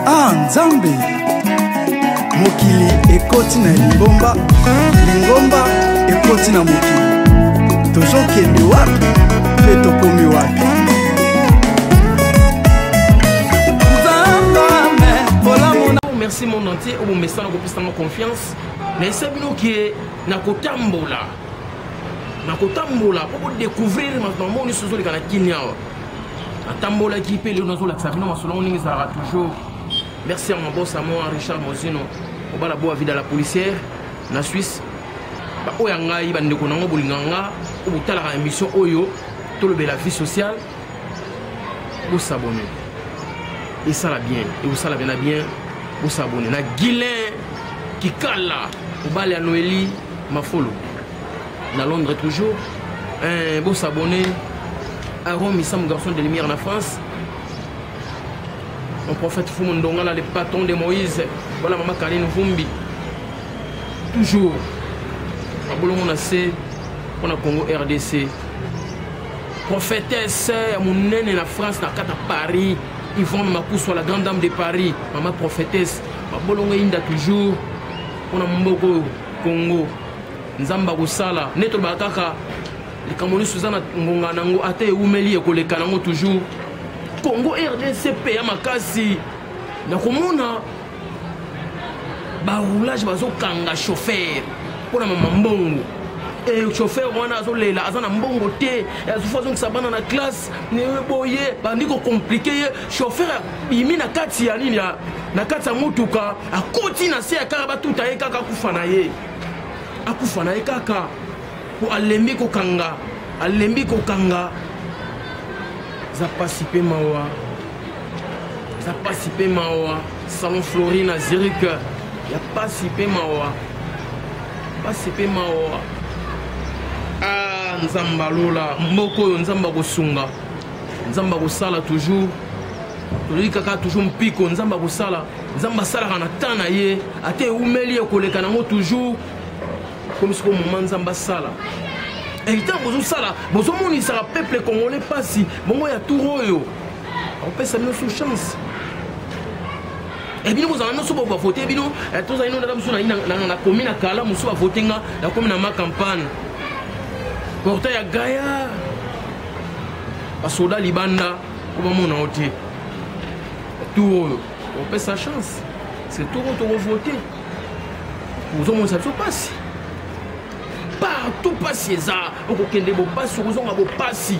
ah nzambe mokili ekoti na lingomba lingomba ekoti na mokili tozokende wapi mpe tokomi wapi merci monde entier oyo bomesana kopesanga confiance nayesa bino ke nakotambola nakotambola mpo kodecouvrir makambo nyonso ezoleka na kini awa atambolaki mpe lelo nazolakisa bino masolo yango ndenge ezalaka toujours merci ya mabosa moi richard mozino obala boa vida la policière na suisse baoyo ya ngai bandeko na yango bolingaka nga oyo botalaka émission oyo tolobela vie sociale bosabone esala bien ekosala bena bien bosabone na guilin kikala obala ya noeli mafolo na londres toujours eh, bosabone aron misamu garçon de lumière na france mon prophète fumu ndongala le patron de moïse voilà mama karine vumbi toujours abolongo na se mpo na congo rdc prophétesse ya monene na france na kata paris yvonne makusu la grande dame de paris mama prophétesse babolongo eyinda toujours mpo na mboka oyo congo nzambe akosala nde tolobaka kaka likambo nyonso eza na ngonga na yango ata ewumeli ekoleka na yango toujours congo rdc mpe ya makasi na komona baroulage bazokanga chauffer mpo na mama mbongo e eh, chauffer wana azolela aza na mbongo te azofazongisa bana na classe boye bandi kocomplike ye chauffeur abimi na kati ya nini na kati ya motuka akoti na se ya kaka batuta ye kaka akufa na ye akufa na ye kaka mpo alembi kokanga alembi kokanga eza mpasi mpe mawa eza pasi mpe mawa salon flori na zirik ya pasi mpe mawa pasi mpe mawa ah, nzambe alola mboka oyo nzambe akosunga nzambe akosala toujours tozali kaka toujours mpiko nzambe akosala nzambe asalaka na temps na ye ata ewumeli ekoleka nango toujours komi soko moma nzambe asala etango bozosala bozomonisaka peuple congolais mpasi bongo ya tour oyo opesa bino su chance ebino eh, kozala nyonso bo bavote bino eh, tozali no ndaka mosusu nakomi na kala mosusu bavote nga nakomi na ma campagne porta ya gaya basoda libanda po bamona yo te tour oyo opesa chance se tour oyo tokovote ozomonisa biso mpasi partout mpasi eza okokende bopasi okozonga bopasi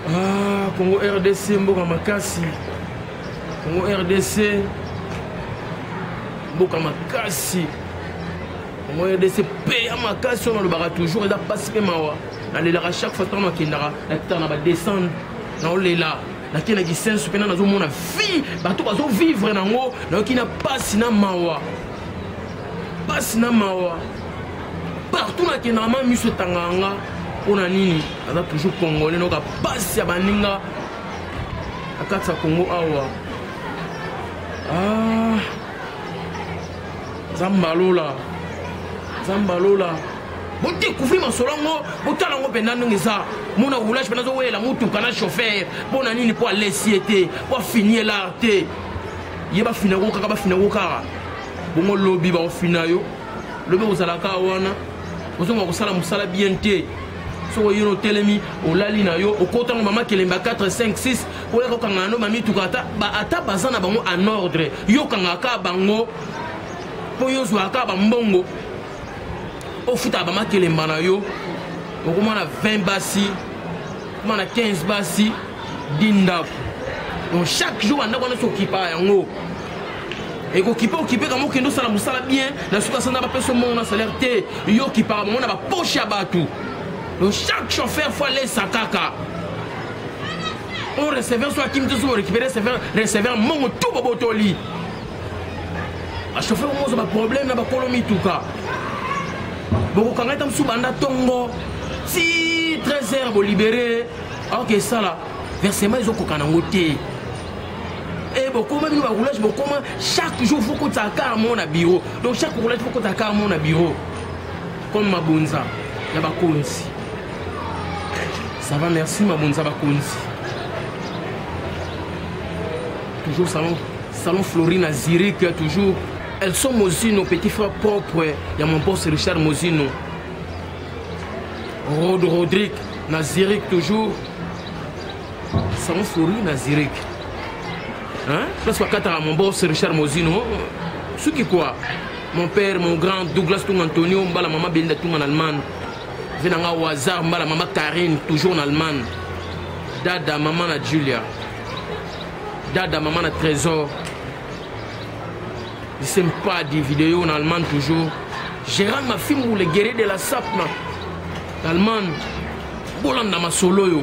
ah, congo rdc mboka makasi congo rdc mboka makasi congo rdc mpe ya makasi oyo nalobaka toujours eza mpasi mpe mawa nalelaka chaque fois ntango nakendaka nakitaka na badescendre naolela nake na kisenso mpena nazomona vie bato bazovivre nango nayoki na mpasi na mawa pasi na mawa partout nakendaka ma miso etangaka nga mpo na nini aza toujours congolais noka pasi ya baninga na kati ya congo awa ah, zambalola zambalola bodécouvrir masolo yango botala yango mpenza ndenge eza mona roulage mpenza azowelela motuka na chauffeur mpo na nini mpo alesi ye te mpo afini ye lar te ye bafina yango kaka bafina yango kaka bongo lobi bakofina yo lobi kozalaka wana ozonga kosala mosala bien te soki oyino otelemi olali na yo okotango mama kelemba 4 5 6 oyaka okanga yano bamituka ata baza na bango en ordre yo okangaka bango mpo yo ozwaka bambongo ofutaka bama kelemba na yo okomana 20 basi okomana 15 basi di ndako donc chaque jour bandako wana sokipa yango ekokipe okipe kama okende osala mosala bien na suka sanda bapesa omongo na salaire te yo okipaka bango na baposhe ya bato donc chaque chauffeur fo alesa kaka o receveur so akimi te so borécupere receveur mongo tu bobotoli bachauffeur omoza baproblème na bakolo mituka bokokanga ete mosusu banda ntongo ti 13 heure bolibere aoke esala versement ezokokana yango te Eh, bokoma bino baroulage bokoma chaque jour faut kotaka kaka moko na bureau donc chaque roulage faut kotaka kaka moko na bureau comme mabonza ya bakonzi ça va merci mabonza bakonzi toujours salon salon florine à zurich toujours elles sont mozino petit frère propre ya mon boss richard mozino rod rodrigue na zurich toujours Sango Flori na Zurich. Hein? Place wakataka mon boss Richard Mozino. Suki quoi? Mon père, mon grand Douglas Tung Antonio, mbala maman Belinda Tung en Allemagne. Venanga au hasard, mbala maman Karine, toujours en Allemagne. Dada, maman na Julia. Dada, maman na Trésor. Je sais pas des vidéos en Allemagne toujours. Gérard Mafimou, le guerrier de la Sapna. Allemagne. Bolanda masolo yo.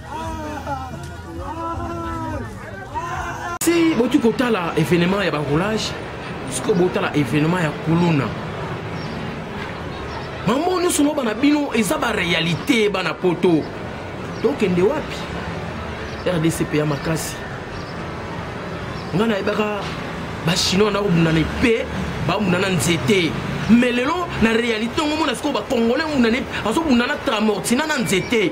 si boki kotala événement ya baroulage sikoyo botala événement ya kuluna mambo nyonso no bana bino eza baréalité bana poto tokende wapi rdc mpe ya makasi ngai nayebaka bachinois nakobundana mpe babunda na nzete me lelo na réalité yango omona sikoyo bacongolais abundana azobunda na tramortina na nzete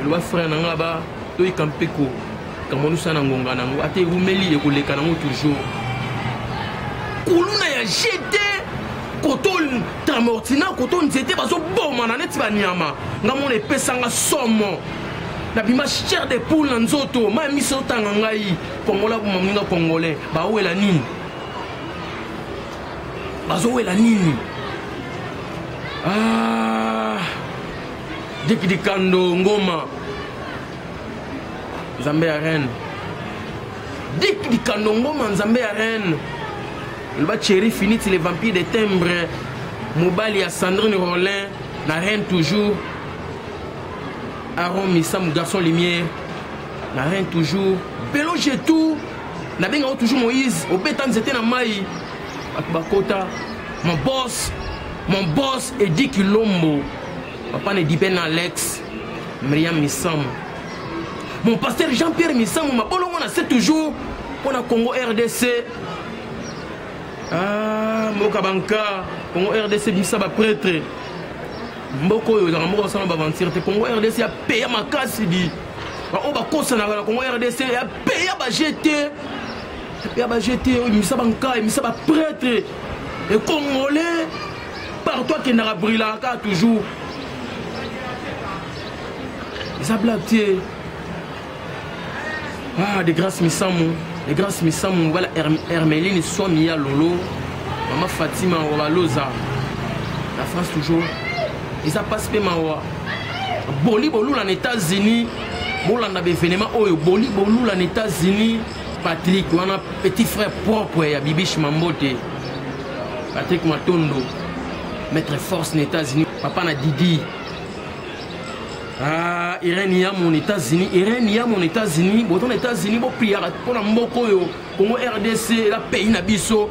eloba frère na nga ba toyika mpeko kamonusa na ngonga na yango ata ewumeli ekoleka nango toujours kuluna ya gt koto tramortina koto nzete bazobomana neti banyama nga mona epesanga somo nabima chair de poule na nzoto ma ya miso otanga ngai kongola boma moninga congolais baowela nini bazowela nini ah. Dick Dikando Ngoma Nzambe ya reine Dick Dikando Ngoma Nzambe ya reine loba Thierry Finiti le vampire de timbre mobali ya Sandrine Rollin na reine toujours Aaron Misamu garçon lumière na reine toujours Belo Jetou nabengaka toujours Moïse obeta nzete na mai bato bakota mon boss mon boss Eddie Kilombo papa ne dibe na alex miriam misamu mon pasteur jean pierre misamu mabolongo na se toujours mpo na congo rdc ah, mboka banka congo rdc bisa bapretre mboka oyo ezalaka mboka basala baventure te congo rdc ya peya makasi di baoyo bakosanaka na congo rdc ya peya bajete ya bajete oyo ebimisa banka ebimisa bapretre ekongole partout akendaka brilaka kaka toujours eza blague te ah de grâce misamu de grâce misamu bala hermeline swami ya lolo mama fatima wabaloza la france toujours eza mpasi mpe mawa boli bolula na états-unis bolanda baevenema oyo boli bolula na états-unis Patrick wana petit frère propre ya Bibiche Mambote. Patrick Matondo, maître force na États-Unis, papa na Didi. Ah, Irène ya mon États-Unis, Irène ya mon États-Unis, boton États-Unis bo priaka pona mboko yo, Congo RDC la pays na biso.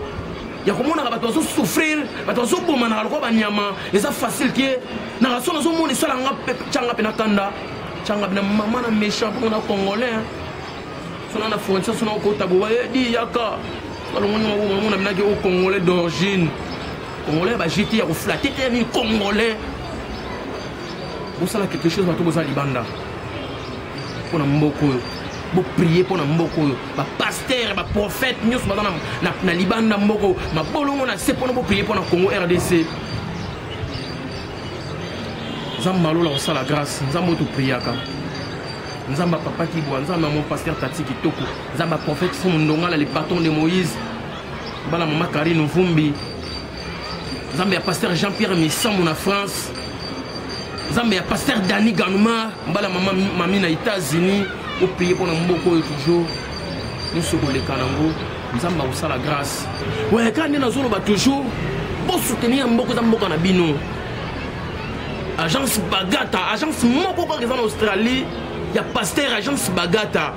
ya komonaka bato bazosouffrir bato bazobomanaka lokola banyama eza facile ke naka so nazomona esalanga canga mpe na kanda canga mpe na mama na méchant mpo na congolais sona na frontière sona okota boba eh, di yaka balongoni maboma mona minaki o congolais d'origine congolais ba jete ya koflate te nini congolais bosala quelque chose bato boza libanda mpo na mboka oyo boprie mpo na mboka oyo bapaster baprofete nyonso baza na libanda mboka oyo mabolongo na se mpona boprie mpo na congo rdc nzambe malola kosala grâce nzambe oyo topriaka nzambe papa kibwa nzambe mon pasteur tati kitoko nzambe prophète fumu ndongala le patron de moïse bana mama karine mvumbi nzambe ya pasteur jean pierre misambo na france nzambe ya pasteur dani ganuma mbala mama mami na états-unis opeye mpo na mboka oyo toujours nyonso koleka nango nzambe akosala grâce weka nde nazoloba toujours bosoutenir mboka eza mboka na bino agence bagata agence moko kaka eza na australie ya pasteur agence bagata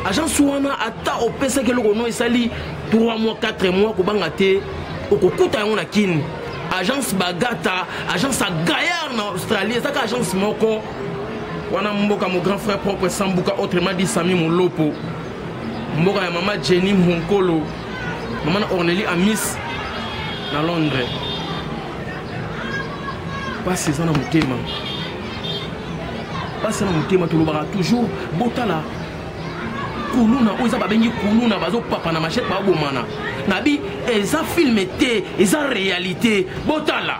agence wana ata opesaki eloko no esali 3 mois 4 mois kobanga te okokuta yango na kini agence bagata agence ya gaillard na australie ezaka agence moko wana mboka mo grand frère propre sambuka autrement dit sami molopo mboka ya mama jenny monkolo mama na orneli amis na londres mpasi eza na motema mpasi na motema tolobaka toujours botala kuluna oyo eza babengi kuluna bazopapa na machete babomana nabi eza filme te eza réalité botala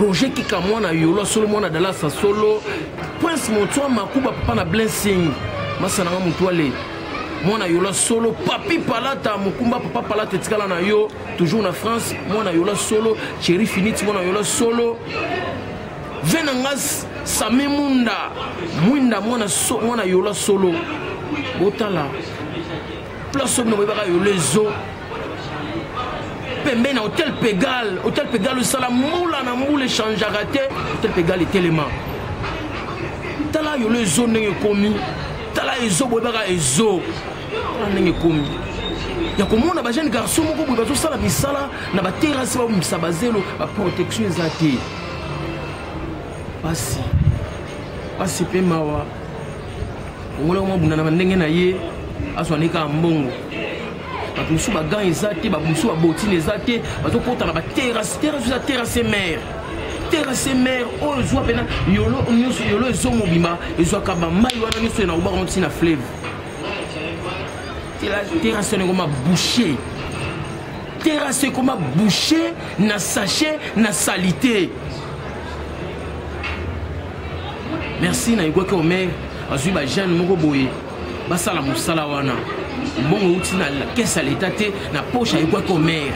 roger kika mwana yolo solo mwana dalasa solo prince montoa makuba papa na blessing masana nga motuale mwana yola solo papi palata mokumba papa palata etikala na yo toujours na france mwana yola solo cheri finiti mwana yola solo venangas sami munda mwinda mwana, so, mwana yola solo botala place oyo bino boyebaka yola ezo pembeni na hotel pegal hotel pegal osala mbula na mbula echangeaka te hotel pegal etelema tala yolo ezo ndenge ekomi tala ezo boyebaka ezo tala ndenge ekomi ya komona bajeune garçon moko boye bazosala misala na baterasi babomisa bazelo baprotection eza te pasi pasi mpe mawa mongolo yango abunda na bandenge na ye azwani kaka mbongo bato mosusu bagan eza te bato mosusu babotine eza te bazokota na baterase terase eza terase mare terase mare oyo ezwa mpena yolo nyonso yolo ezomobima ezwaka bamai wana nyonso ye nakobaka moti na fleve terase wana ekoma boucher terase ekoma boucher na sachet na salite merci nayebwaki omer azwi bajeune moko boye basala mosala wana mbongo euti na kese ya leta te na poshe ayebwaki omer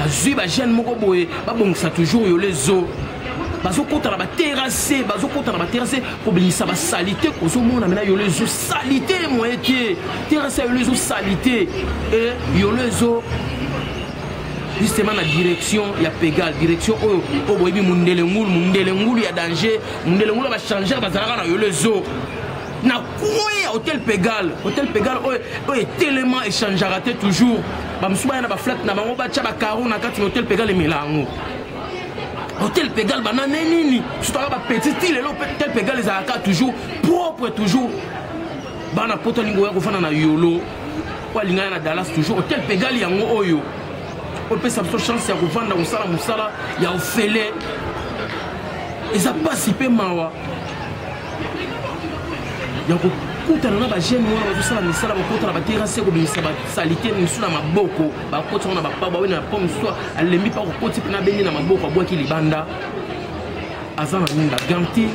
azwi bajeune moko boye babongisa toujours yole zo bazokota na baterase bazokota na baterase kobimisa basalite ozomona mena yolo ezo salite moye te terase ya yolo ezo salite e yolo ezo justement na direction ya pegal direction oyo oyo boyebi mundele ngulu mundele ngulu ya danger mundele ngulu ya bachangere bazalaka na yolo ezo na kue hotel pegal hotel pegal oyo oyo etelema echangeaka te toujours bamosusu baya na baflate na bango batya bacaro na kati na hotel pegal emela yango hotel pegal banane nini sutaka bapetit ti lelo hotel pegal ezalaka toujours propre toujours bana poto alingi oya kofanda na yolo oyo alingana na dallas toujours hotel pegali yango oyo opesa biso chance ya kovanda kosala mosala ya ofele eza mpasi mpe mawa ya kokutana na bagene wana bazosala misala bakotana baterase kobimisa basalite mosusu na maboko bakoti yango na bapaba oyo na po mosusu alembi mpa kokoti mpe na bende na maboko abwaki libanda aza na nini bagante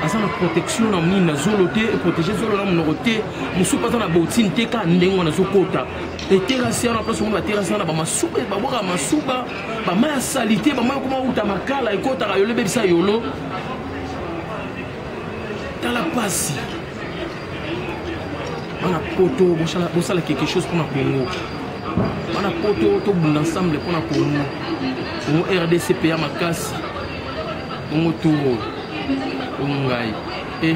aza na protection na nini na zolo te eprotege zolo na monoko te mosusu mpe aza na botine te kaka ndenge wana azokota eterasi wana place omona baterasi wana bamasuba babwaka masuba bama ya salite bama ekoma uta makala ekotaka yolo ebebisa yolo tala mpasi bana poto bosala quelque chose mpona congo bana poto tobunda ensemble mpona congo congo rdc peya makasi congo toro congo ngai Eh,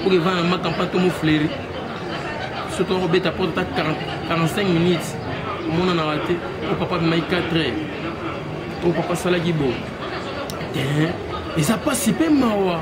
pour que vana maka mpa tomo fleri soki okobeta mpo ata 45 minutes omonanaka te o papa bimaki 4 heures o papa asalaki bo eh, eza mpasi mpe mawa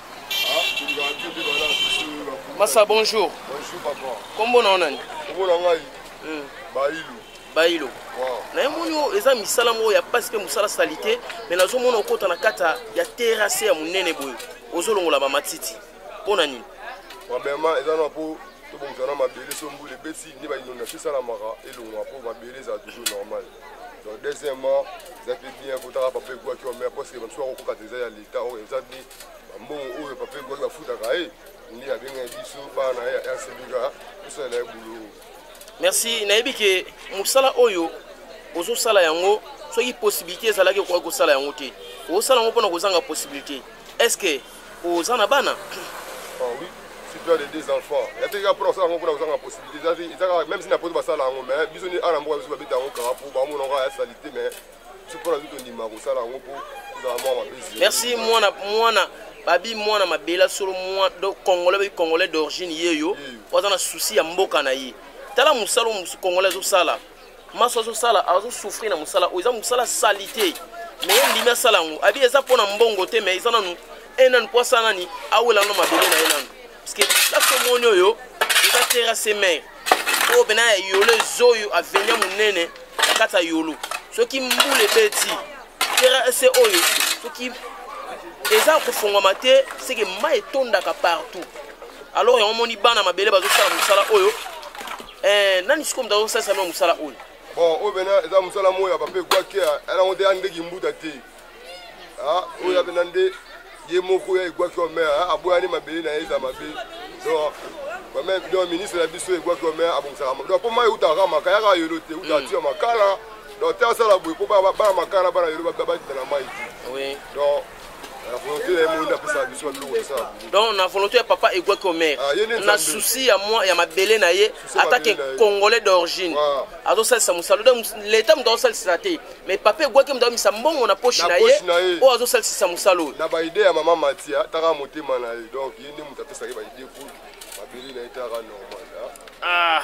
masa bonjour kombo na yo nani kombo na ngai hmm. bailu bailu na ye moni oyo eza misala moko ya mpasi mpe mosala salite mai nazomona okota na kati ya terase ya monene boye ozolongola bamatiti mpo na nini premièrement eza na mpo tobongisa na mabele so mbula ebeti nde bainondation esalamaka elongwa mpo mabele ezala toujours normal donc deuxièmement eza mpe bien kotaka papa egwaki wamea parceke bamisusu akokokata eza ya leta oyo eza nde bambongo oyo papa egwaki bafutaka ye nde abengaki biso bana ya rsbika tosalela ye buluu merci nayebi ke mosala oyo ozosala yango soki possibilité ezalaki okoki kosala yango te osala yango mpona kozanga possibilité est ce que oza na bana ah oui si tu as les deux enfants ya te kaka mpona kosala yango mpona kozanga possibilité eza kaka même si na poto basala yango mais biso ni ana mboka biso babeta yango kaka mpo bamona yango ya salite mais biso mpona biso tondima kosala yango mpo tozala mwa mabezi merci mwana mwana babi mwana mabela solo mwa congolais babi congolais d'origine ye yo oza na souci ya mboka na ye tala mosala congolais azosala maso azosala azosouffrir na mosala oyo eza mosala salite me ye ndimi asala yango abi eza mpo na mbongo te me eza nanu e nanu mpo asala nani awela no mabele na ye nanu parceke place omoni oyo eza terre ase mare oyo mpena ya yolo eza oyo avenia monene na kati ya yolo soki mbula ebeti terre ase oyo soki eza kofongwama te seke mai etondaka partout alors yango omoni bana mabele bazosala mosala oyo eh, nani sikoyo moto azosalisa mwa mosala oyo bon oyo pena eza mosala moko ya pape egwakia yango te ya ndeki mbuta te ah, oyo ya pena nde ye moko ya egwaki wa mer ah, aboyani mabele na ye eza mabe donc bame donc ministre na biso egwaki wa mer abongisaka donc mpo mai euta kaka maka yaka yolo te euta hmm. tia makala donc te asala boye mpo bana makala bana yolo babakita na mai te donc donc na volonté ya papa egwaki omer ah, na souci ya mwa ya mabele na ye atake congolais d'origine azosalisa mosala donc leta moto azosalisisa te mais papa egwaki moto amisa mbongo na poche na ye oyo azosalisisa mosala oyo na baide ya mama matia taka motema na ye donc ye nde moto apesaki baide po mabele na ye taka normal ah.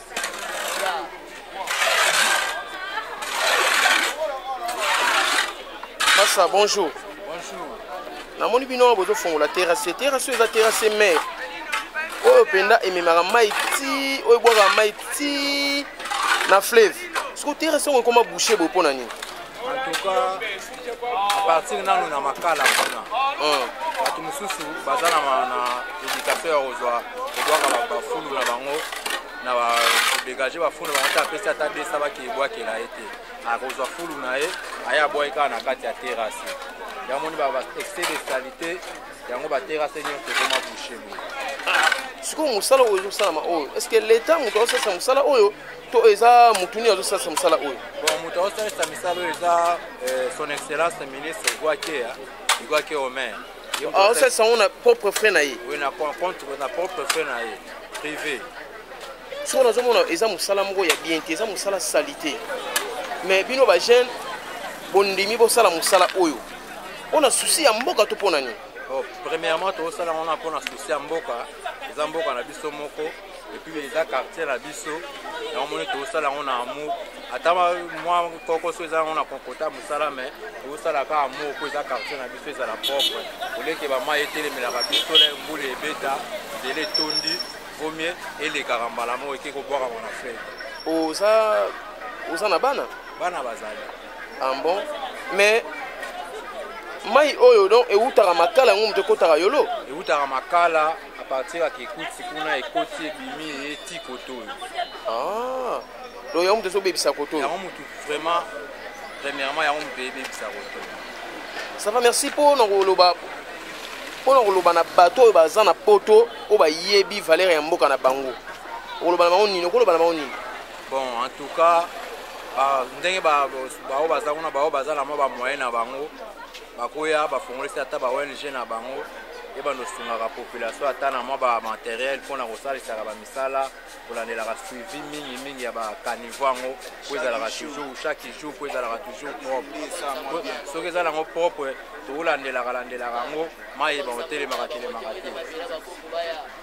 masa bonjour namoni bino wana bozofongola terrasse terrasse oyo eza terrasse mare oyo mpenza ememaka mai ti oyo ebwaka mai ti na fleuve siko terrasse yango ekoma bouche boye mpo na nini apartir nanu na makala kuna oh. bato mosusu baza na éducation ya kozwa kodwaka bafulu na bango na kodegage bafulu na bango te apesi ata desa bakebwakela ye te akozwa fulu na ye aye abwaki kaka na kati ya terase yango moni ba excès de salite yango baterase nyonso ekoma bouche boye sikoyo mosala oyo ezosalama oyo estce leta moto aosalisa mosala oyo to eza motu nini azosalisa mosala oyo bon moto azosalisa misala oyo eza eh, son excellence ministre guakea guakea omer azosalisa yango na propre frais na ye oui na contre na propre frais na ye privé soko nazomona eza mosala moko ya bien te eza mosala salite mais bino bajeune bondimi bosala mosala oyo mpo na susi ya mboka to mpo na nini oh, premièrement tozosala yango na mpo na susi ya mboka eza mboka na biso moko epuis eza quartier na biso yango moni tokosala yango na amour ata mwa kokoso eza yango na konkota mosala mai tokosala kaka amour mpo eza quartier na biso ezala propre oleke bamai etelemelaka biso le mbula ebeta nzela etondi vomie elekaka mbala moko eke kobwakama na fete oza oza na bana bana bazali ah bon mais mai oyo donc ewutaka makala yango moto ekotaka yolo ewutaka makala A partir ya Kikuti kuna ekoti ebimi eye ti koto oyo. Ah. Donc yango moto ezobebisa koto oyo. Yango moto vraiment premièrement yango moto eyebebisa koto. Ça va merci mpo na koloba mpo na koloba na bato oyo baza na poto oyo bayebi valeur ya mboka na bango okoloba na bango nini okoloba na bango nini bon en tout cas ndenge baoyo baza kuna baoyo baza na mwa bamoyen na bango bakoya bafongolisi ata ba ong na bango ebanda osungaka population ata na mwa bamateriel mpo na kosalisaka bamisala kolandelaka suivi mingi mingi ya bakanivo yango mpo ezalaka toujours chaque jour mpo ezalaka toujours propre soki eza nango propre tokolandelaka landelaka yango mai yeba kotelemaka telemaka te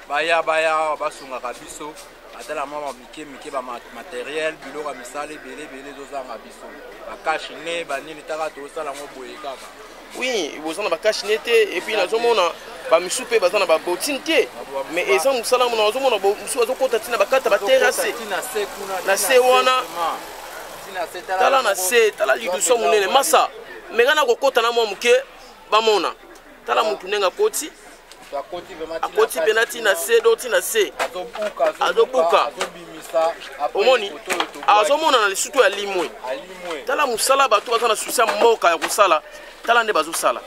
baya baya basungaka biso ata na mwa mike mike ba materiel biloko ya misala ebele ebele ezozanga biso bakashi ne banini taka tosala yango boye kaka oui boza na bakashi ne te epuis nazomona bamisu mpe baza na babotine te mais eza mosala mona nazomona mosusu bazokota ntina bakata batere ase na se wana tala na se tala liduso monene masa meka na kokota na mwa moke bamona tala mutu ndenge akoti akoti mpena ti na se do ti na se azobuka omoni azomonana lisusu to ya limwe tala mosala bato baza na susi ya mboka ya kosala tala nde bazosala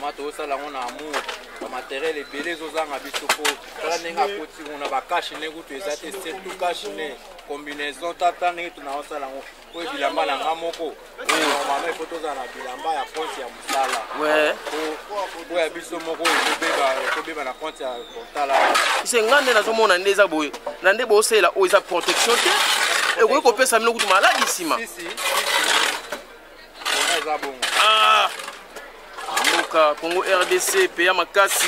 ma tozosala yango na amour bamateriel ebele ezozanga biso mpo tala ndenge akoti ngo na bakashe ne kutu eza te surtout kashe ne combinaison tata ndenge tunakosala yango oyo bilamba na nga moko normalement ifo tozala na bilamba ya compte ya mosala oyo ya biso moko ekobeba na compte ya kontala se nga nde nazomona nde eza boye na nde bosalela oyo eza protection te ekoki kopesa bino kutu maladi nsima ah! mboka congo rdc peya makasi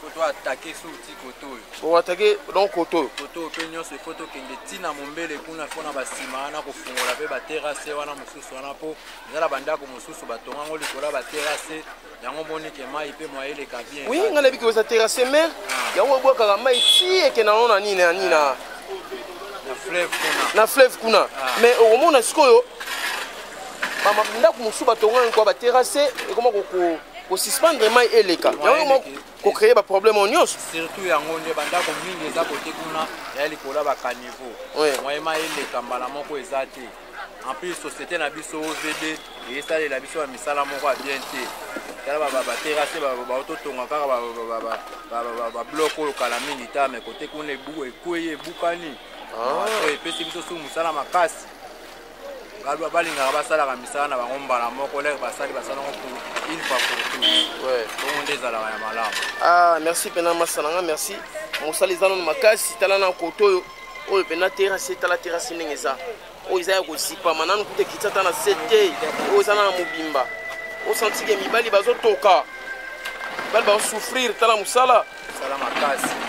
Koto atake so ti koto oyo. Bon atake donc koto oyo. Koto oyo pe nyonso ifo tokende ti na mombele kuna ifo na basima wana kofungola pe baterase wana mosusu wana po eza na bandako mosusu batonga yango likolo ya baterase yango omoni ke mai pe mwa eleka bien. Oui ngai nayebi koza terase mer ah. yango ebwakaka mai ti ekenda yango na nini na nini na fleuve kuna. Na fleuve kuna. Ah. Mais okomona sikoyo ndako mosusu batonga yango kwa baterase ekoma koko kosuspendre mai eleka yango kocreye baproblème oyo nyonso surtout yango nde bandako mingi eza kote kuna ya likolo ya bacaniveau moye mai eleka mbala moko eza te en plus société na biso ovd eyesalela biso ya misala moko ya bien te tala baterase baototonga kaka bablok oyo kala mingi ta me kote kuna ekwei ebukani ah. epesi biso su mosala makasi baluba balingaka basalaka misala na bango mbala moko leke basali basala yango pour une fois pour tout bongo nde ezalaka ya malamu ah merci mpena masa nanga merci mosala eza nano makasi tala na koto oyo oyo mpena terase tala terase ndenge eza oyo eza ya kozipama nanu kuta ekiti ata na se te oyo eza nana mobimba osantike mibali bazotoka mibali bazosouffrir tala mosala mosala makasi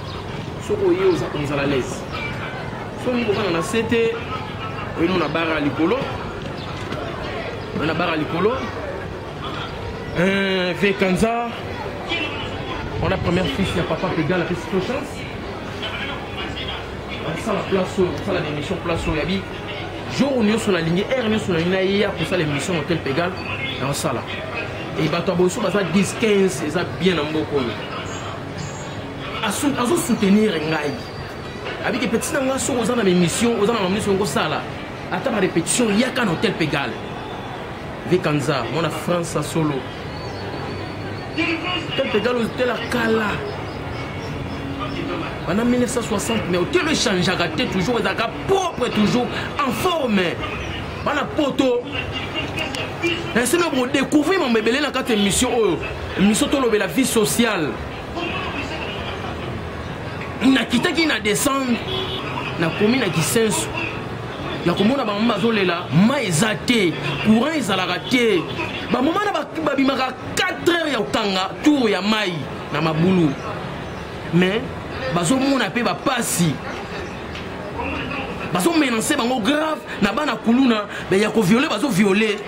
soki oye oza komzala lese soki kokana na se te oyemo na bara likolo oye na bara likolo euh, vekanza wana première fils ya papa pedal apesi to chance asala place oyo kosala na émission place oyo yabi jour nyonso nalingi heure nyonso nalingi nayeya kosala émission hotel pegal na osala e bato ya boso baza 10 15 eza bien na mboka oyo azo soutenir ngai abiki petit na ngai soki oza na baémission oza na mamonisi yango osala ata ba répétition yaka na hôtel pegal vikanza mwana france ya solo hôtel pegal ozotela kala banda 1960 mais hôtel echangeaka te toujours ezalaka propre toujours en forme bana poto nsimi kodécouvrir mambo ebele na kati ya émission oyo émission tolobela vie sociale nakitaki na descendre nakomi na kisenso ya komona bamama bazolela mai eza te courant ezalaka te bamama na babimaka 4 heures ya kokanga tour ya mai na mabulu mais bazomona mpe bapasi bazomenance bango grave na bana kuluna ya koviole bazoviole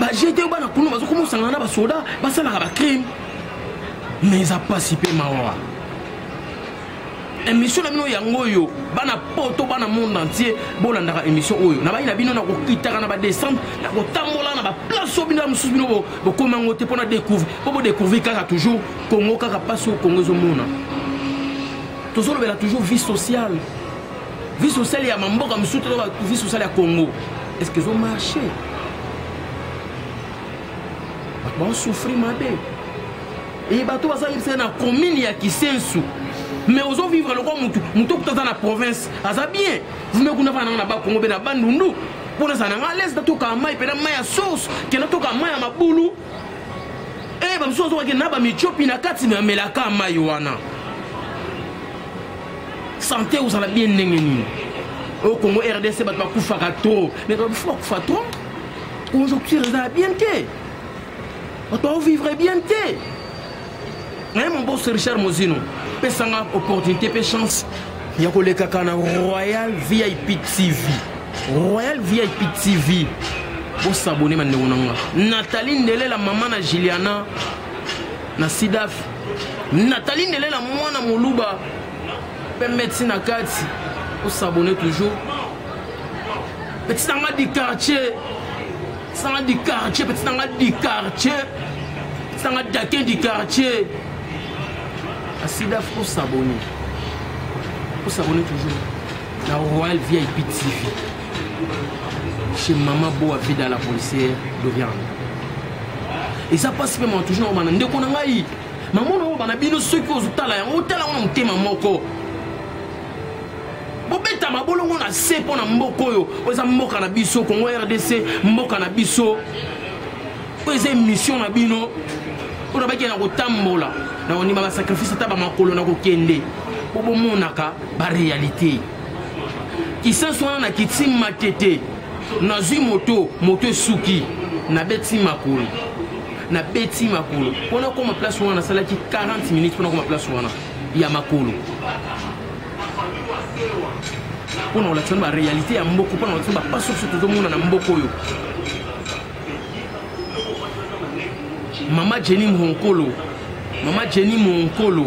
bajete oyo bana kuna bazokoma osangana na basoda basalaka bacrime mais eza mpasi mpe mawa émission na bino yango oyo bana poto bana monde entier bolandaka émission oyo na bai na bino nakokitaka na badescendre nakotambola na baplace oyo bino ya mosusu bino bokoma yango te mpo na découvre mpo bodécouvrir kaka toujours congo kaka mpasi oyo congo ezomona tozolobela toujours vie sociale vie sociale ya mamboka mosusu to vie sociale ya congo est ce que ezo marche bato baosouffrir mabe eye bato baza yebisa na commune ya kisensu mais ozo vivre lokwa motu motu okuta aza na province aza bien vume kuna vana nanga na bakongo mpe na bandundu mpo naza nanga alaise natokaa mai mpe na mai ya source ke natokaa mai ya mabulu e eh, bamosusu azokake na bamicopi na kati namelaka mai wana sante ozala bien ndenge nini oyo congo rdc bato bakufaka trop mais bakufi bakufa trop conjoncture ezala bien te bato baovivre bien te naye mobos richard mozino pesanga opportunité mpe chance ya kolekaka na royal vip tv royal vip tv bosabone bandeko na nga natali ndelela mama na juliana na sidaf natali ndele na mwana moluba pembe ti na kati osabone toujours petit nanga du quartier petit nanga du quartier petit nanga du quartier petit nanga dakin du quartier asidaf osabone osabone toujours na royal vip tv chez mama boa vida la policière dorian eza mpasi mpe mama toujours nakomana ndeko na ngai mamona oyo bana bino soki ozotala yango otala yango na motema moko bobeta mabolongo na se mpo na mboka oyo oyo eza mboka na biso congo rdc mboka na biso oyo eza émission na bino oyo nabaki na kotambola na kondima basacrifice ata bamakolo na kokende mpo bomonaka barealité kisasi wana nakiti matete nazwi moto moto esuki nabeti makolo nabeti makolo mpo nakoma place wana nasalaki 40 minutes mpo nakoma place wana ya makolo mpo na kolakisa ba réalité ya mboko mpo na kolakisa bapaso biso tozomona na mboko oyo mama jenny monkolo mama jenny monkolo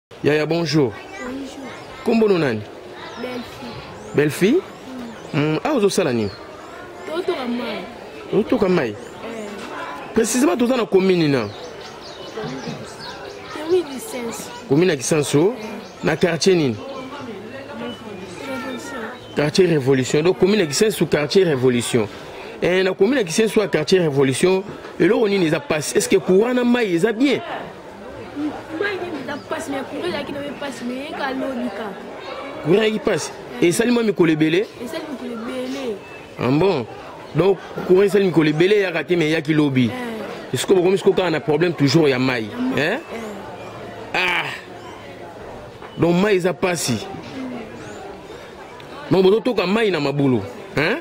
Yaya, bonjour. Bonjour. Kombo no nani? Belle-fille. Belle-fille? Mm. Mm. Ah, ozosala nini? Totoka mai. Totoka mai? Eh. Précisément toza na commune na. Commune Kisenso. Commune ya Kisenso eh. na quartier nini? Quartier Révolution. Donc commune ya Kisenso quartier Révolution. Eh, na commune ya Kisenso quartier Révolution, eloko nini eza passe? Est-ce que courant na mai eza bien? kuraki mpasi esali mwa mikolo ebele ambon donc courant esali mikolo ebele eyaka te me eyaki lobi esiko bokomi siko kaka na problème toujours ya mai eh? ah donc mai eza mpasi donc bozotoka mai na mabulu eh?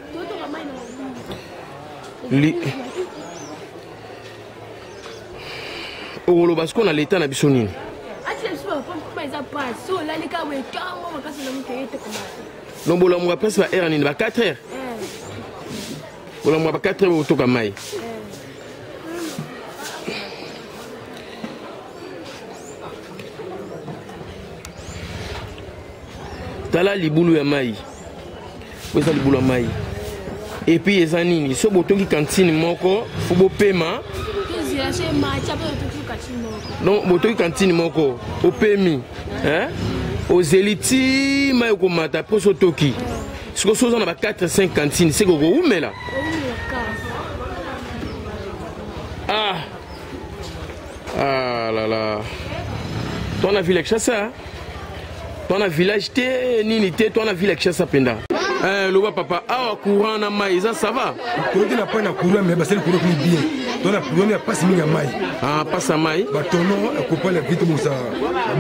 okoloba sikoyo na leta na biso nini donc bolamuka presque ba heure nini ba 4 heures bolamuka ba 4 heures bokotoka mai tala libulu ya mai oyo eza libula mai epuis eza nini so botongi kantine moko fo bopema donc botongi kantine moko opemi ozeli ti mai okomata mposo otoki sikoyo so oza na ba 4 5 kantine seke okowumela ah ah là là toi na vile kinshasa toi na village te nini te toi na ville ya kinshasa mpenza eh, loba papa awa courant na mai eza sava toyoki na pai na courant me basali courant kuni bien to na problème ya mpasi mingi ya mai ah, mpasi ya mai batono ekopala eh, vite mosa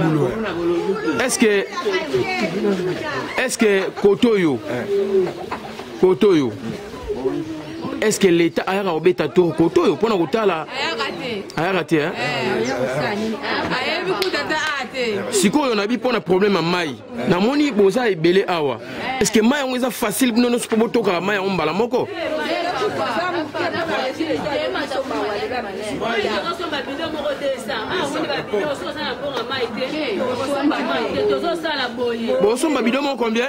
bulo est ce que est ce que koto oyo eh. kotoyo est ce que l'état ayaka kobeta tour kotoyo mpona kotala ayaka te sikoyo nabi mpona problème ya mai namoni boza ebele awa est ce que mai yango eza facile bino nyonso mpo botokaka mai yango mbala moko bosomba bido moko combien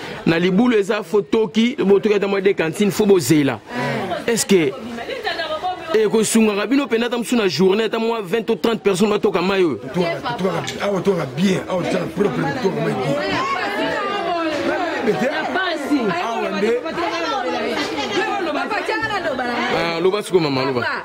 na libulu eza fo toki botoki ata mwa de cantine fo bozela est ce que ekosungaka bino mpenza ata mosusu na journée ata mwa 20 to 30 personnes batoka mai oyo awa toka bien awa tozala propre toka mai bien loba siko mama loba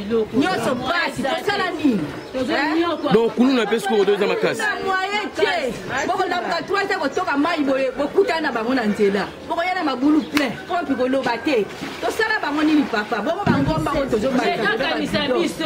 nyonso pasi tosala nini donc kuluna mpe sikoyo toza makasi moyen te bokolambuka trois te kotoka mai boye bokutana na bango na nzela bokoya na mabulu plein kompi koloba te tosala bango nini papa bongo bangomba oyo tozobaezakanisa biso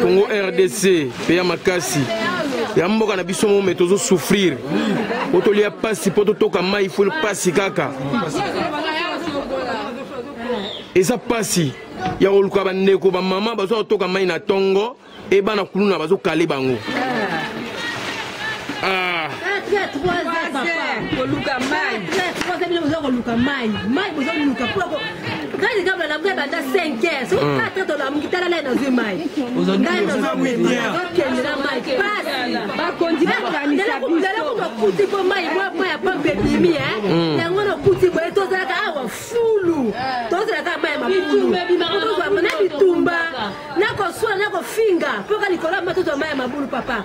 congo rdc mpe ya makasi ya mboka na biso mome tozo souffrir po tolia mpasi mpo totoka mai fo mpasi kaka eza mpasi ya koluka bandeko bamama baza kotoka mai na ntongo e bana kuluna bazokale bango ah. koluka mai Kadi kabla na mbe banda 5 heures. Soki mm. tata to la mkitala la na zui mai. Ngai na zui mai. Okende na mai. Pasi. Ba kondi ba kanisa. Ndela ko ndela ko kuti ko mai mwa mwa ya pompe bimi eh. Mm. Yango na kuti ko to zala ka awa fulu. To zala ka mai mapulu. Ko zwa mona bitumba. Na ko swa na ko finga. Poka likola matoto mai mabulu papa.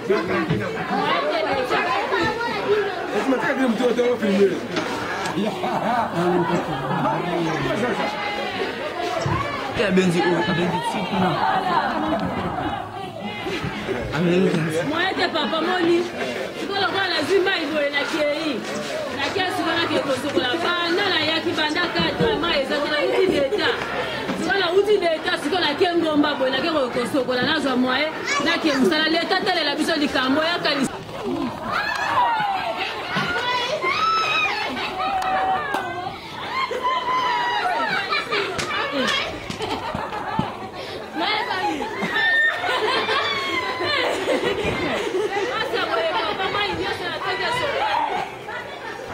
abenzi oyo abenzi tikuna moyete papa moni sikolokola nazwi mai boye nakei nakia sika nake kosokola banda nayaki banda kata mai ezaki nauti deta sika nauti deta siko nake ngomba boye nake kosokola nazwa moye nake mosala leta talela biso likambo yakanisa Thank you.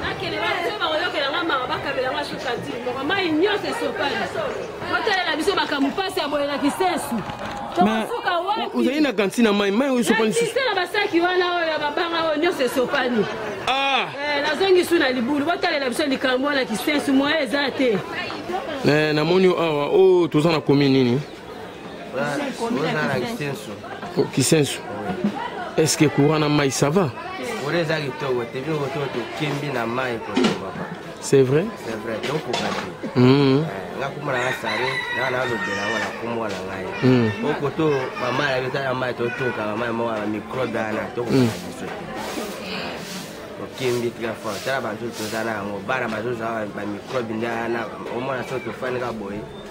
bakende bato bakoyokela nga mawa bakabela nga suka ti moko mai nyonso esopani kotalela biso makambo mpasi ya boye na kisensu tokosuka wapiozali na kanti na mai mai oyo esopani susu na basaki wana oyo ya babanga oyo nyonso esopani ah! eh, nazongi su na libulu botalela biso likambo wana kisensu moya eza te eh, namoni awa oyo oh, toza na komi nini Oh, kisensu est ce que courant na mai ça va c'est vrai nakuma na sare na nalobela yango na nkombo na ngai po koto mama na biso ya mai totoka mama ya moko ya microbe wana tokokana biso tokembi très fort tala bantu toza na yango bana bazozwa bamicrobe nde wana omona so tofandika boye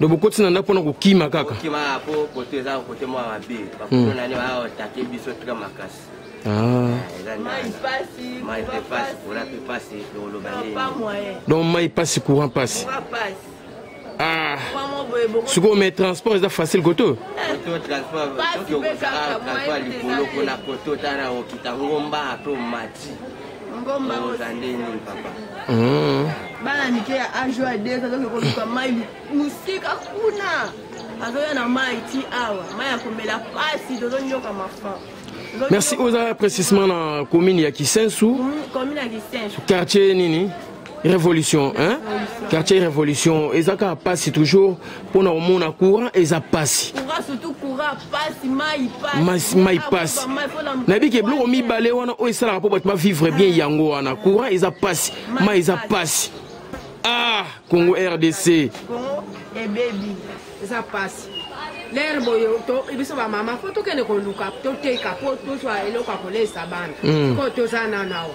do bokoti na ndako mpona kokima kaka donc mai pasi courant pasi ah. sikoyo mai transport eza facile koto Hmm. bana mike ya age ya des azoki koluka mai mosika kuna azoya na mai ti awa mai ya komela mpasi tozonyoka mafa merci oza précisement na commune ya kisensu hmm, commune ya kisensu quartier nini révolution hein? quartier révolution eza kaka mpasi toujours mpona komona courant eza mpasi mai mpasi nayebi ke biloko mibale wana oyo esalaka mpo bato bavivre bien yango wana courant eza mpasi mai eza mpasi ah congo rdc ebebi eza mpasi lere boye biso bamama fo tokende koluka toteka mpo tozwa eloko ya kolesa bana mpo hmm. toza nanawa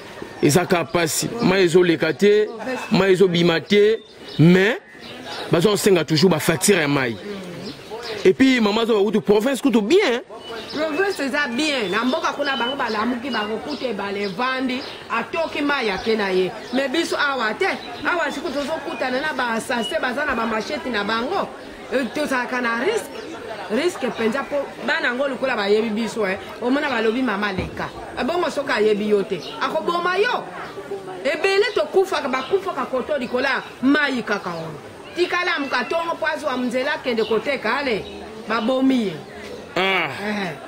eza kaka mpasi mai ezoleka te mai ezobima te mais baza kosenga toujours bafaktire ya mai epuis mama azoba kutu province kutu bien province eza bien na mboka kuna bango balamuki bakokuta ebala evandi atoki mai ake na ye me biso awa te awa siko tozokutana na basase baza na bamasheti na bango euh, tozalaka na risque risque mpenza mpo bana yango lokola bayebi biso eh. omona balobi mama leka ebongo soki ayebi yo te akoboma yo ebele tokufaka bakufaka koto likolo ya mai kaka oyo tikala mokatongo mpo azwa nzela akende koteka ale babomi ye ah. eh.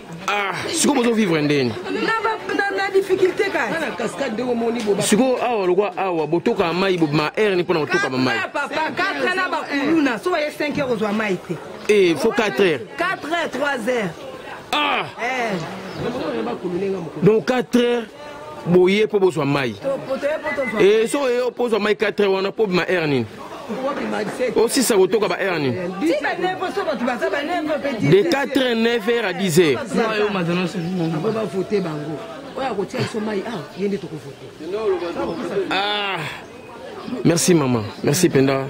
ah sikoyo bozo vivre ndeni difficulté kaka sikoyo awa lokwa awa botoka mai ma aire ni mpo na kotoka bamai na bakuluna so baye 5 heure ozwa mai te e fo 4 heure 4 heure 3 heure ah eh. donc 4 heure boye mpo bozwa mai e soki oye mpo ozwa mai 4 heure wana mpo obima heure nini osisa kotoka ba heure nini de 4 heure 9 heure à 10 heure oyo akotia biso mai awa ye nde tokovote ah merci mama merci mpenza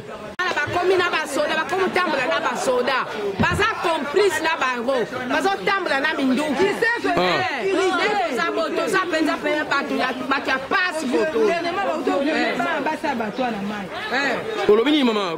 bakomi na basoda bakomi kotambola na basoda baza complice na bango bazotambola na minduki toza bo toza mpenza mpenza bato ya pasi olobi nini mama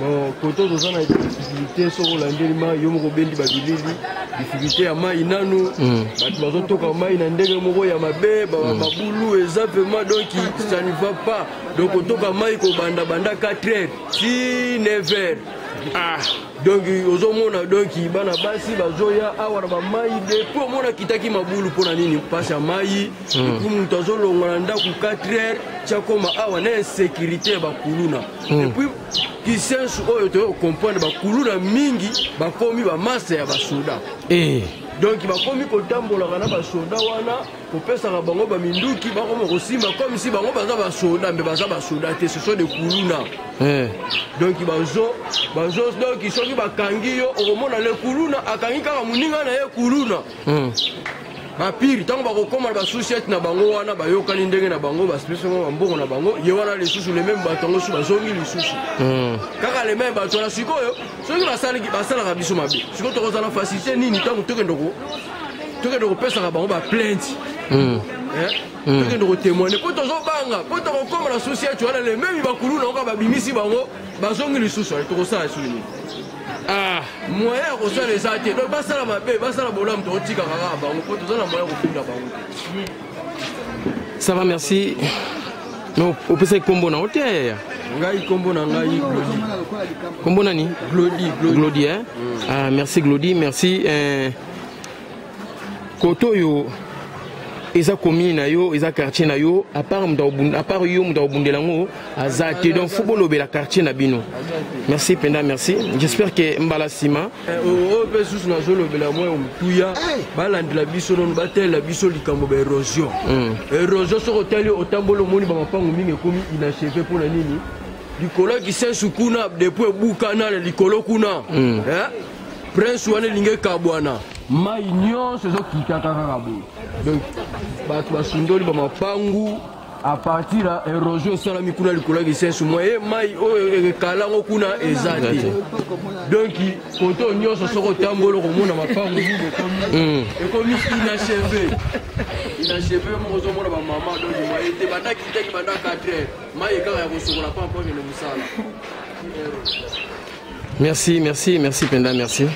bon kote toza na difficulté soki olandeli mai yo moko obendi babilili difficulté ya mai nanu hmm. bato bazotoka mai na ndenge moko ya mabe hmm. mabulu eza pema donc ça ne va pas donc otoka mai kobanda banda 4 heures ti 9 heures ah. donc ozomona donc bana basi bazoya awa na bamai depuis omona kitaki mabulu mpo na nini mpasi ya mai hmm. epuis moto azolongola ndako 4 heures tiakoma awa na insécurité ya bakuluna hmm. epuis kisensu oyo toyei kocomprendre bakuluna mingi bakomi bamasta ya basoda eh. donc bakomi kotambolaka na basoda wana kopesaka bango baminduki bakoma kosimba comme si bango baza basoda mpe baza basoda te ce sont de kuluna eh. donc bazo bazo donc soki bakangi yo okomona le kuluna akangi kaka moninga na ye kuluna hmm. bapire ntango bakokoma na basusiete na bango wana bayokani ndenge na bango basipesi bango bambongo na bango ye wana lisusu le meme bato yango su bazongi lisusu hmm. kaka le meme bato wana sikoyo soki basalaka biso mabe sikoyo tokozala facilité nini ntango tokende tokende kopesaka bango baplainte hmm. eh? hmm. tokende kotemoine mpo tozobanga mpo tokokoma na susi yetu wana le meme bakulu na oka babimisi bango bazongi lisusu ale tokosala lisusu nini ah. moyen ya kosala eza te donc basala mabe basala bolamu tokotikaka kaka bango mpo toza na moyen ya kofinga bango te ça va merci opesaki nkombo na yo te yaya ngai nkombo na ngai glodi nkombo nani glodi glodi eh? mm. ah, merci glodi merci eh. kote oyo eza commune na yo eza quartier na yo apart apart yo moto akobundela yango aza te donc fo bolobela quartier na bino merci mpenza merci j'espère ke mbala nsima eh, oyo mpe susu nazolobela mwa ya motuya balandela biso nono batalela biso likambo ba érosion hmm. érosion soki otali otamboli omoni bamapango mingi ekomi inacheve mpo na nini likolo ya kisensu kuna depuis ebukana na likolo kuna hmm. eh? prince wana elingi ekabwana mai nyonso ezokitaka kaka boye donc bato basundoli bamapangu apartir ya erosion esalami kuna likolo ya kisensu mwa ye mai oyo ekala yango kuna eza te donk koto nyonso soki otamboli okomona mapangu nini ekomi ekomi inacheve inacheve moko ozomona bamama donk maye te banda kitaki banda 4 heure mai ekaka ya kosokola pa mpo akende mosala Merci, merci, merci Penda, merci.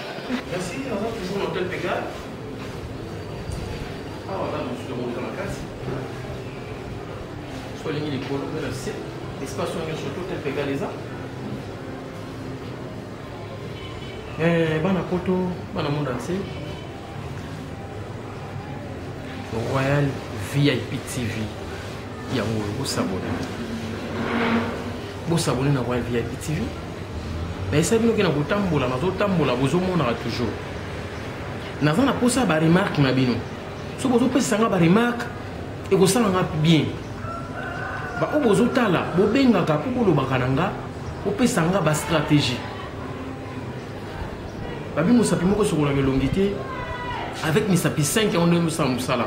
Eh, bana poto bana monde entier royal vip tv yango bosabone bosabone na royal vip tv na esa bino ke na kotambola nazotambola bozomonaka toujours naza na mposa ya baremarke na bino soki bozopesa nga baremarke ekosala nga bien baoyo bozotala bobengaka mpo bolobaka na nga bopesa nga bastratégie babi mosapi moko sokolaka elongi te avec misapi 5 yango ndenge mosala mosala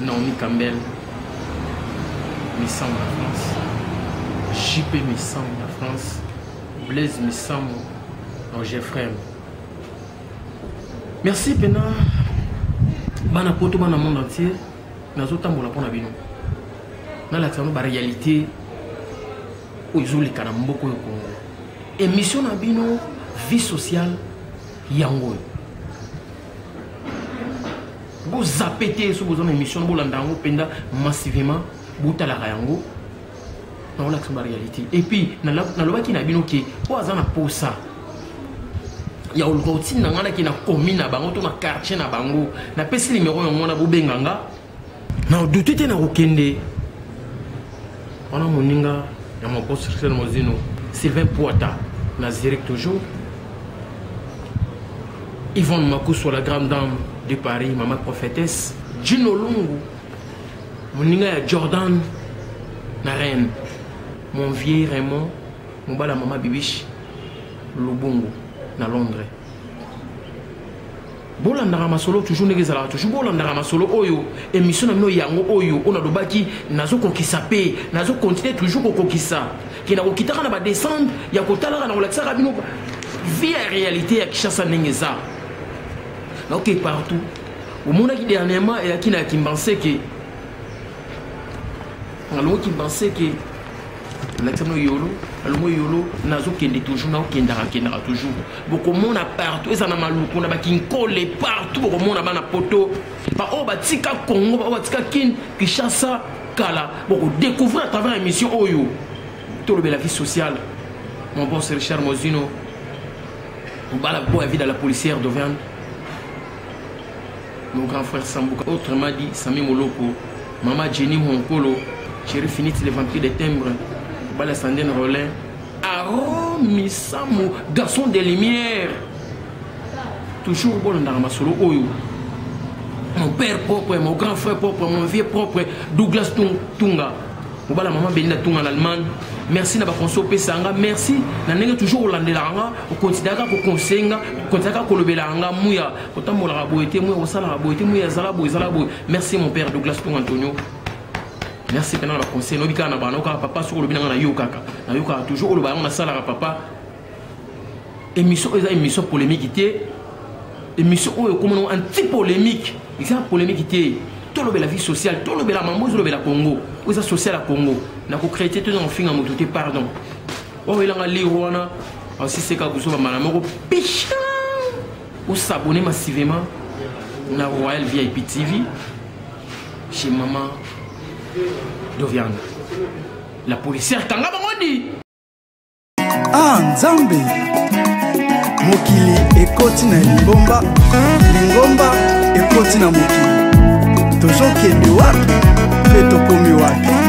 Naomi Campbell, Misambo na France. JP Misambo na France. Blaise Misambo, Roger Frem. Merci pena bana poto bana monde entier nazotambola mpo na bino nalakisa bino baréalité oyo ezoleka na mboka oyo kongo émission na bino vie sociale yango oyo bozape te soki boza na émission bolanda yango mpenza massivement botalaka yango naolakisa ba réalité epuis nalobaki na bino ke oyo aza na posa ya oluka otinda ngai nake na commune na bango to na quartier na bango napesi nimero yango wana bobenga nga na odute te na kokende wana moninga ya moconstructeur mozino sylvain poita na zurich toujours yvonne makusu la grande dame de paris mama prophétesse jino lungu moninga ya jordan na reine mon vieux raymond mobala mama bibishi lubungu na londres bolandaka masolo toujours ndenge ezalaka toujours bolandaka masolo oyo émission na bino yango oyo oyo nalobaki nazokokisa mpe nazokontinue toujours kokokisa ke nakokitaka na badescendre ya kotalaka na kolakisaka bino vie ya réalité ya kinshasa ndenge eza naoke partout omonaki dernièrement eyaki na kimbanseke nalongo kimbanseke lakisano yolo nalongo yolo nazokende toujours naokendaka kendaka toujours bokomona partout eza na maluku na bakinkole partout bokomona bana poto baoyo batika congo baoyo batika kin kinshasa kala bokodecouvrir à travers émission oyo tolobela vie sociale mon bon c'est richard mozino obala boya vie de la policière doverne Mon grand frère Sambuka, autrement dit Sami Moloko, Mama Jenny Honkolo, Chéri Finiti, les vampires des timbres, Bala Sandine Rollin, Aaron Misamu, garçon des lumières. Toujours bon dans ma solo Oyo. Mon père propre, mon grand frère propre, mon vieux propre, Douglas Tunga. Mobala Mama Belinda Tunga en Allemagne. merci na bakonse opesa yanga merci na ndenge toujours olandelaka nga okonsideraka kokonseyenga okonsideraka kolobelaka nga muya kotambolaka boye te moye kosalaka boye te moye azala boye ezala boye merci mon père douglas tongo antonio merci mpena na baconseil noyebi kaka na bana okaka papa soki olobi nanga nayokaka nayokaka toujours oloba yango nasalaka papa émission eza émission polémique te émission oyo ekomona anti polémique eza polémique te tolobela vie sociale tolobela mambo ezolobela congo oyo eza sociale ya congo nakocree te tozanga kofinga moto te pardon oyo elanga lire wana asiseka buzoba mbala moko picha Ou s'abonner massivement na Royal VIP TV chez maman Doviana. La policière kanga bango di. Ah Nzambe. Mokili ekoti na lingomba, lingomba ekoti na mokili. Tozokende wapi mpe tokomi wapi?